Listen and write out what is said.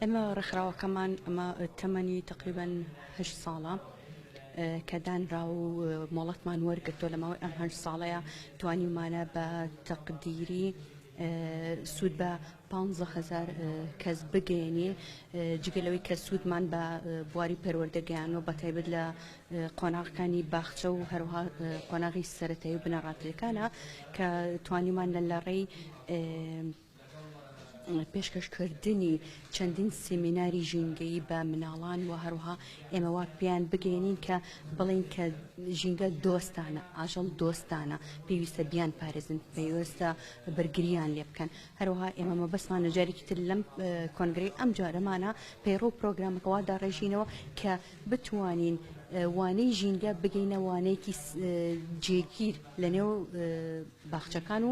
ئێمە ڕێکخراوەکەمان ئەمە تەمەنی تەقریبەن هەشت ساڵە کە دانرا و مۆڵەتمان وەرگرتۆ لە ماوەی ئەم هەشت ساڵەیە توانیمانە بە تەقدیری سوود بە پ هزار کەس بگەێنی جگە لەوەی کە سوودمان بە بواری پەروەردەگەیان و بە تایبەت لە قۆناغەکانی باخچە و هەروها قۆناغی سەتایی و بنەڕاتەکانە کە توانیمان لە لە ڕێی پێشکەشکردنی چەندین سیمیناری ژینگەیی بە مناڵان و هەروها ئێمە وا پێیان بگەێنین کە بڵین کە ژینگە دۆستانە ئاژەڵ دۆستانە پێویستە بیان پارێزن پێویستە بەرگریان لێ بکەن هەروها ئێمە مەبەسمان نەجارێکی تر لەم کۆنگری ئەم جارەمانە پەیڕۆ پرۆگرامەکەوا داڕێژینەوە کە بتوانین وانەی ژینگە بگەینە وانەیەکی جێگیر لە نێو باخچەکان و